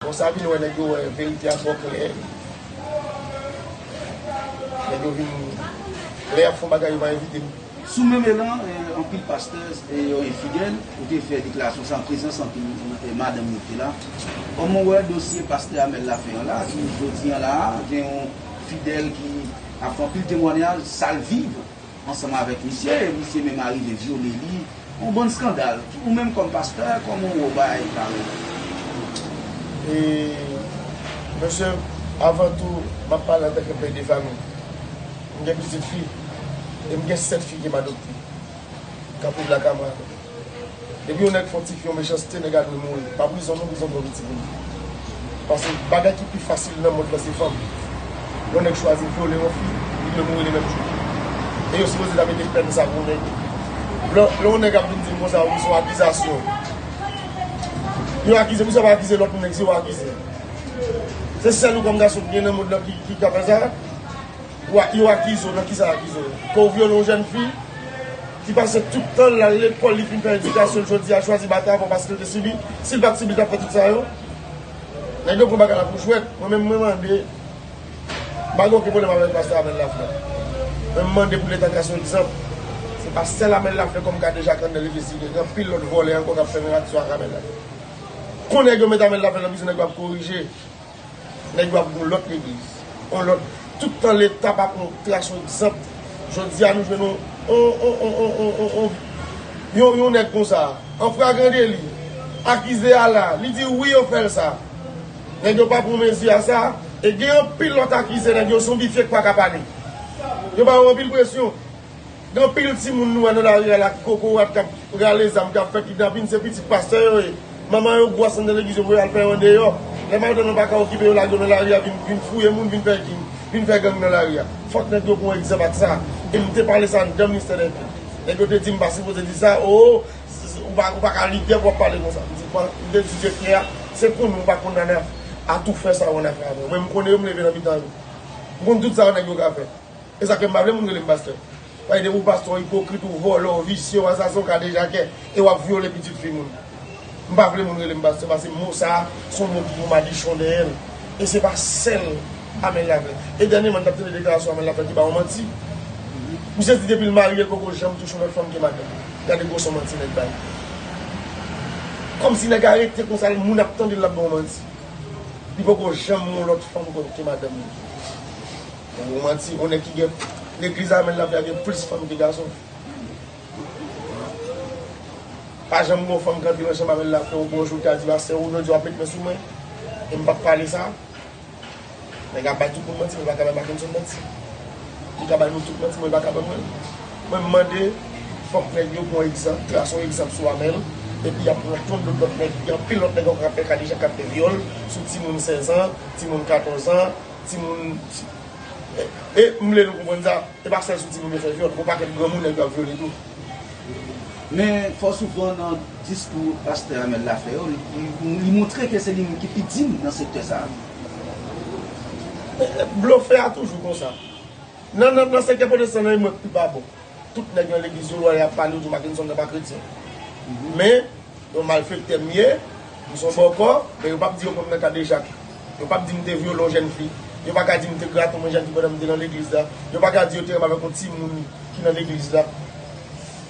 Bon sa vin wè nèg yo wè verite a twò klè nèg yo vin lè yap fon bagay yo pa envitem. Sou menm elan anpil pasteurs e yon infidèl ou te fè deklarasyon sa an prezans anpil madanm yo ki te la kòman ou wè dosye pastè Amel la fè an la ki jodi an la gen yon fidèl ki ap fè anpil temwanyaj sal viv ansanm avèk misye e misye menm arive vyole li yon bann skandal ou menm kòm pastè kòman ou wè bagay parèy la. E mesye avan tou map pale antanke pè de fami m gen pitit fi e m gen 7 fi kem adopte kap viv lakay mwen. Depi yon nèg fon ti fi yon mechanste nèg a dwe mouri pa prizon non prizon bon piti pou li paske bagay ki pi fasil nan mond lan se fanm yon nèg chwazi vyole yon fi li dwe mouri le menm jou e yo sipoze ta mete pèn sa pou nèg lè yon nèg ap vin dim konsa wi son akizasyon yo akize misye ap akize lòt nèg se yo akize se sèl ou kòm gason ki gen nan mond lan ki ka fè sa yo akize w nan kisa yo akize w ke w vyole yon jèn fi. ki pase tout tan l al lekòl, li fin fè edikasyon l jodi a chwazi batay avon paske l te sibi, si l pa t sibi l t ap fè tout sa yo? Nèg yo pran bagay la pou jwèt, mwen menm mwen mande, m pa gen oken pwoblèm avèk pastè Amel Laflè, men m mande pou leta trase yon egzanp, se pa sèl Amel Laflè kòm gade Jacques André li te sibi, gen anpil lòt vòlè ankò k ap fè menm aksyon ak Amel Laflè. Kon nèg yo met Amel Laflè nan prizon nèg yo ap korije. Nèg yo ap gen yon lòt legliz, yon lòt, tout tan leta pa pran tras yon egzanp, jodi a nou jwenn yon, yon, yon, yon nèg konsa, an fragan deli, akize a la, li di wi yo fè l sa. Nèg yo pa pran mezi a sa, e gen anpil lòt akize nèg yo zonbifye k pa ka pale. Yo ba yo anpil presyon. Gen anpil timoun nou wè nan lari a la ki kokorat kap rale zam kap fè kidnapin se pitit pastè yo ye manman yo bwa san nan legliz yo voye al fè yo andeyò lè madanm nan paka okipe yo lage yo nan lari a vin fouye moun vin fè king vin fè gang nan lari a fòk nèg yo pran egzanp ak sa e m te pale sa anndan ministè dè kult nèg yo te di m pa sipoze di sa oo ou paka lidè pou wap pale konsa m di m te di direktè a se pou nou pa kondanne atoufè sa yo annafè a vre mwen m konnen yo m leve nan mitan yo m konn tout sa yo nèg yo ka fè. Esa fèm pa vle moun relem pastè. Bay depi w pastè w ipokrit ou vòlò w visye w asasen w kadejakè e wap vyole pitit fi moun. M pa vle moun relem pastè pase mo sa son mo ki gen madichon dèyè l e se pa sèl Amel la vle. E dènyeman m tap tande deklarasyon Amel la fè ki ba w manti. Misye di depi l marye l poko janm touche yon lòt fanm ke madanm li. Gade gwosò manti nèg bay. Kòmsi nèg arete konsa l moun ap tande l lap ba w manti. Li poko janm gen yon lòt fanm ke madanm li. Ou manti ou nèg ki gen legliz amen lap la gen plis fanm ke gason pa janm gon fanm ki antre nan chanm amen la fèw bonjou ta di pastè ou jodi wap met men sou mwen e m pap pale sa nèg ap bay tout moun manti men paka bay makenson manti li ka bay nou tout manti mwen li paka ban mwen mwen m mande fòk nèg yo pran egzanp trace yon egzanp sou amel epi yap pran ton dout lòt nèg gen anpil lòt nèg ankò kap fè kadejak kap fè vyòl sou timoun 16 ans timoun 14 ans. Timoun E m vle nou konprann sa, e pa sèl sou timoun yo fè vyòl, gon pakèt granmoun nèg yo ap vyole tou. Men fò souvan nan diskou pastè Amel la fè yo, li montre ke se li menm ki pi dim nan sektè sa a. Blofè a toujou konsa. Nan sektè pwotestan nan e mwen k pi pa bon. Tout nèg nan legliz yo lwa yap pale yo di Mackenson nan pa kretyen men yon malfektè m ye m son bòkò men yo pap di yo konn nan kadejak yo pap di m te vyole yon jèn fi yo pa ka di m te grate yon menjaki pandan m te nan legliz la yo pa ka di yo te renmen avèk yon timoun ki nan legliz la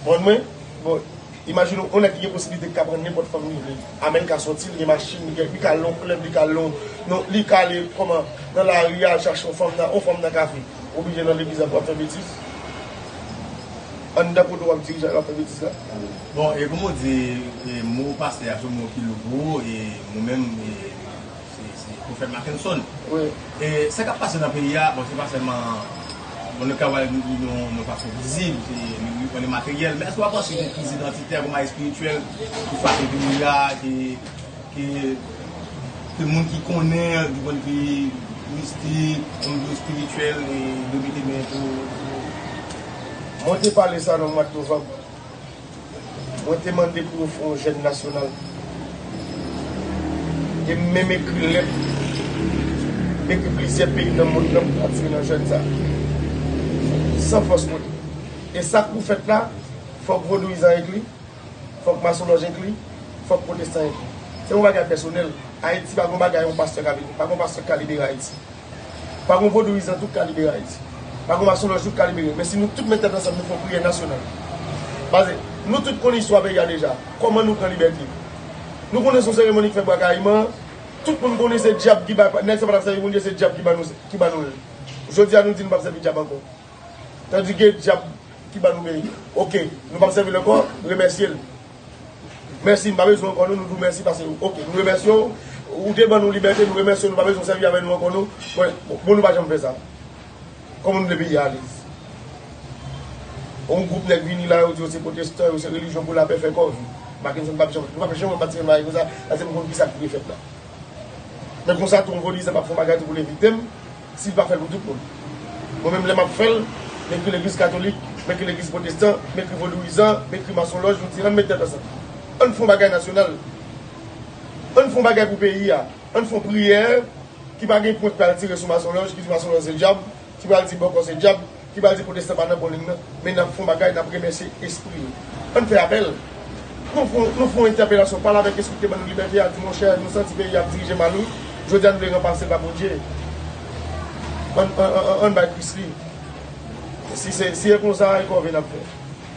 bon mwen bon. Imajine w, yon nèg ki gen posiblite ki ka pran nenpòt fanm li vle a men li ka sòti, li gen machin, li gen, li ka al nan yon klèb, li ka al nan yon, li ka ale kòman, nan lari a al chache yon fanm nan, yon fanm nan kafe. Ou oblije nan legliz la pou w ap fè betiz? Anndan kote w ap dirije a l ap fè betiz la? Bon, e kòman w di, e mo pastè a se yon mo ki lou pou ou, e nou menm, e. Se Profèt Mackenson. E sa kap pase nan peyi a, bon se pa sèlman bon nou ka wè yon fason vizib, yon li materyèl, men èske w pa panse gen kriz idantitè kouman espirityèl ki frape peyi a ke ke moun ki konnen di pwèn di mistik, di pwèn di espirityèl e de mete men tou Mwen te pale sa nan mwad novanm. Mwen te mande pou yo fè yon jèn nasyonal. E m menm ekri lèt depi plizyè peyi nan mond lan pou kontinye nan jèn sa. San fòs kote. E sa k pou fèt la, fòk vodouyizan enkli, fòk masonlòj enkli, fòk pwotestan enkli. Se yon bagay pèsonèl. Ayiti pa gen yon bagay yon pastè ka vin. Pa gen yon pastè k ka libere Ayiti. Pa gon vodouyizan tout ka libere Ayiti. Pa gon masonlòj tout ka libere. Men si nou tout met tèt ansanm nou fè yon priyè nasyonal. Paske nou tout konn istwa peyi a deja. Kòman nou pran libète. Nou konnen son seremoni ki fè Bwa Kayiman an. Tout moun konnen se dyab ki bay, nèg sa pa t ap sèvi Bondye se dyab ki ban nou l. Jodi a nou di nou p ap sèvi dyab ankò. Tandike dyab ki ban nou peyi. Ok, nou p ap sèvi l ankò, remèsye l. Mèsi, m pa bezwen ankò non, nou di w mèsi pase yo. Ok, nou remèsye w, ou te ban nou libète, nou remèsye w, nou pa bezwen w sèvi avè nou ankò non. Mwen, bon nou pa janm fè sa. Kòman nou vle peyi a ale? On gwoup nèg vini la, yo di yo se pwotestan, yo se relijyon pou lapè fè kòve. Mackenson pa p janm, nou pa p janm wè Mackenson mache konsa, paske m konn ki sa k dwe fèt la. Men konsa tou, on vodizan pa p fè yon bagay tou pou l evite m. Si l pa fè l pou tout moun. Mwen menm lè m ap fè l, m ekri legliz katolik, m ekri legliz pwotestan, m ekri vodouyizan, m ekri masonlòj, m di ann met tèt ansanm. Ann fè yon bagay nasyonal. Ann fè yon bagay pou peyi a. Ann fè yon priyè ki pa gen pwen k pral tire sou masonlòj, ki di masonlòj se dyab, ki pral di bòkò se dyab. Ki pa di potestan pa nan bon ligne nan, men nap fon bagay nap remèsye espri yo. Ann fè apèl. Nou fon nou fon entèpelasyon pale avèk espri ki te ban nou libète a di monchè nou santi peyi a ap dirije mal wi, jodia nou vle ranpasel pa Bondye. Ann ann ann bay Kris li. Si se si e konsa e kòve nap fè.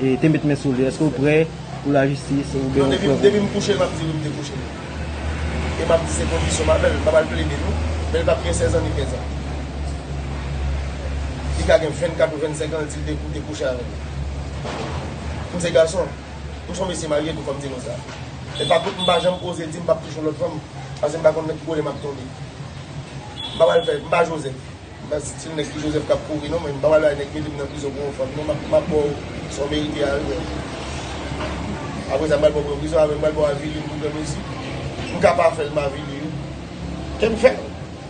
E te met men sou li. Eske ou prè pou la jistis ou byen ou prè pou. Non depi m kouche l map di wi m te kouche l. E map di se kondisyon m avè l. M pap al plede non. Men li pap gen 16 an ni 15 an. Li ka gen 24 ou 25 an l di l te kouche avè m. M se gason. M son mesye marye tou fò m di nou sa. E pa kont m pa janm oze di m pap touche yon lòt fanm. Pase m pa konn nan ki kole map tonbe. M pap al fè, m pa Joseph. Baz di dim nèg ki joseph kap kouri non mwen mpapale ak nèg ki metem nan prizon pou yon fanm non map map baw sa w merite a real aprè sa mpral baw pou yon prizon aprè mpral baw avili m pou gran mezi m ka pa fèl m avili wi kem fè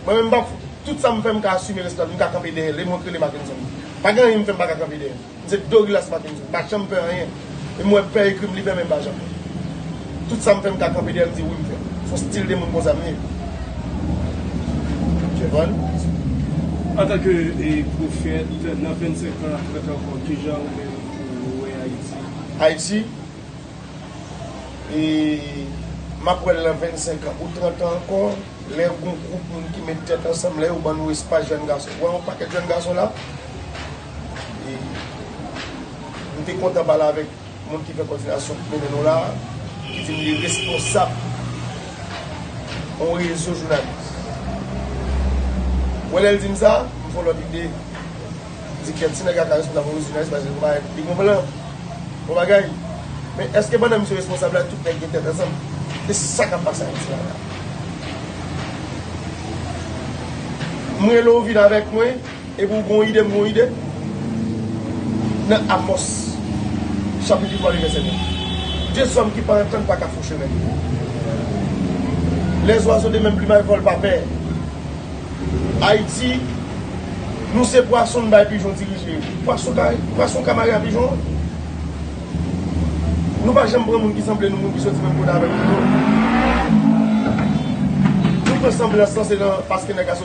mwen menm mpap fout tout sam fè m ka asime responsab m ka kanpe dèyèl e mwen k relem ak yon zam pa gen anyen m fè m paka kanpe dèyèl. M se Dorilas Makenson, m pa janm pè anyen. E m wè pè ekri m li bè men m pa janm pè. Tout sa m fè m ka kanpe dèyè m di wi m fè. S on stil de moun konsa m ye. Jevon. Antanke pwofèt, nan 25 an ap 30 an ankò, kijan ou menm ou wè Ayiti? Ayiti? M ap wè l nan 25 an ou 30 an ankò, lè gon gwoup moun ki met tèt ansanm, lè yo ban nou espas jèn gason. Ou wè on pakèt jèn gason la? e nou te kontan pale avèk moun ki fè kòdinasyon ki mennen nou la a, ki di m li ye responsab yon rezo jounalis. Wè lè l di m sa, m fè yon lòt ide, m di kèt si nèg la ka responsab yon rezo jounalis paske se pa li gen plan, bon bagay. Men èske pandan misye responsab la tout nèg gen tèt ansanm? Se sa k ap pase Ayiti la la. M rele w vin avèk mwen. Epi ou gen yon ide m gen yon ide? Nan Amòs chapit 8 male vèsè 9. De zòm ki pa antann pa ka fon chemen. Lè zwazo de menm plimay vòl pa pè. Ayiti nou se pwason n bay pijon dirije. Pwason ka mare a pijon an. Nou pa janm pran moun ki sanble nou moun ki soti menm kote avèk nou yo. Nou pran sanblans lan se nan paske nèg la.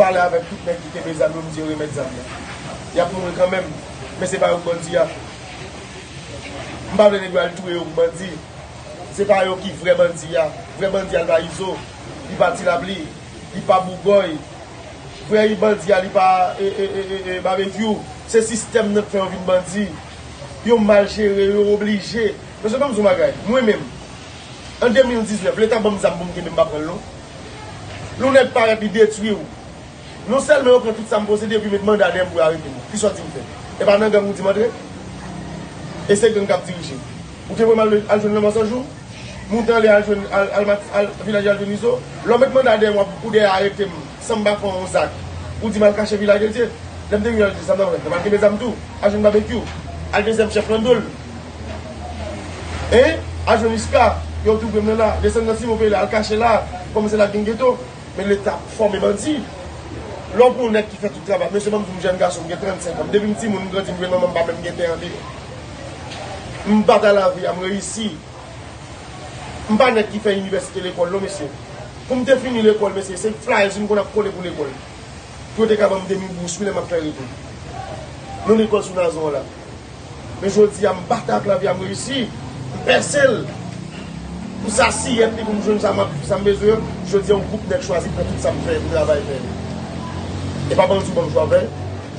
pale avèk tout nèg ki kenbe zam yo m di yo remèt zam yo y ap mouri kanmenm men se pa yo k bandi a m pa vle nèg yo al touye yo pou bandi se pa yo ki vrè bandi a vrè bandi a l pa izo li pa ti lapli li pa bougòy vrè bandi a li pa eeeee babekyou se sistèm nan k fè yo vin bandi yo mal jere yo oblije mesye ban m di yon bagay mwen menm an 2019 leta ban m zam pou m kenbe m pa pran l non. Yon nèg parèt li detwi ou. Non sèlman yo pran tout sa m posede epi yo met manda dèyè m pou yo arete m. Ki sòti m fè? E pa nan gang ou di m antre? E se gang k ap dirije m. Ou te voye m al al jwenn Lanmò San Jou? Moute anlè al jwenn al al mati al Vilaje al jwenn Izo? Lè w met manda dèyè m w ap ou dèyè arete m san m pa fè w yon zak. Ou di m al kache Vilaje Dye. Lè m te vin al di sa m ta pral fè? M ta pral kenbe zam tou? Al jwenn Babekyou? Al dezyèm chèf lan do l? Hein Adjo Niska Yow tou prem nan la desann nan silvouplè e al kache la Kòm se la gen geto Men leta ap fòme bandi Lè w pran nèg ki fè tout travay Mesye banm di w m jèn gason m gen 35 ans Depi m timoun m grandi m jwenn manman m pa menm gen tè andeyo M batay lavi a m reyisi M pa nèg ki fè inivèsite lekòl non mesye Pou m te fini lekòl mesye se flyers m konn ap kole pou lekòl Pou yo te ka banm demi bous wi lè m ap fè retou Non lekòl sou Nazon an la Men jodi a m batay ak lavi a m reyisi, m pèse l pou sa siyèt li pou m jwenn sa m ap sa m bezwen an, jodi a yon gwoup nèg chwazi pran tout sa m fè pou travay fè. E pa bandi w ban m jwavè,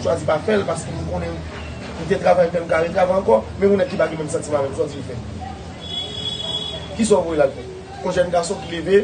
chwazi pa fè l paske m konnen m te travay fè m ka retravè ankò, men yon nèg ki pa gen menm santiman avè m, sa w di l fè? Kisa w voye l al fè? Yon jèn gason ki leve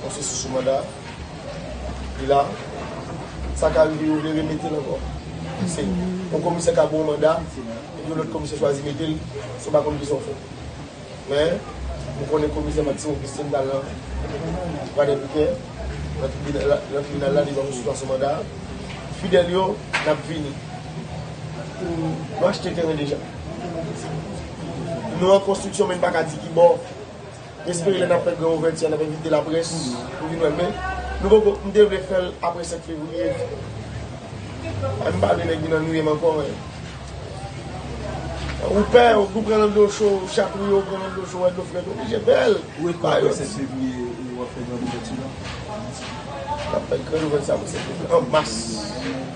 Mwen soti sou manda. Li la. Sa ka rive yo vle remete l ankò. Se yon komisè ka ba w manda epi yon lòt komisè chwazi mete l san w pa konn kisa w fè. Men, mwen konnen komisè Maxime Augustin t al nan Pradè Pikè, nan tribinal la devan misye sou manda. Fidèl yo, n ap vini. Nou achte teren deja. Nou an konstriksyon men n pa ka di ki bò. M espere lè n ap fè gran ouvèti a n ap envite laprès pou vin wè l men nou poko m te vle fè l aprè 7 fevriye paske m pa vle nèg vin annuiye m ankò men ou pè ou tou pran nan dlo cho ou chatouye ou pran nan dlo cho wè dlo frèt ou oblije fè l Ou e kwè aprè 7 fevriye w ap fè gran ouvèti la? N ap fè gran ouvèti aprè 7 fevriye an mas.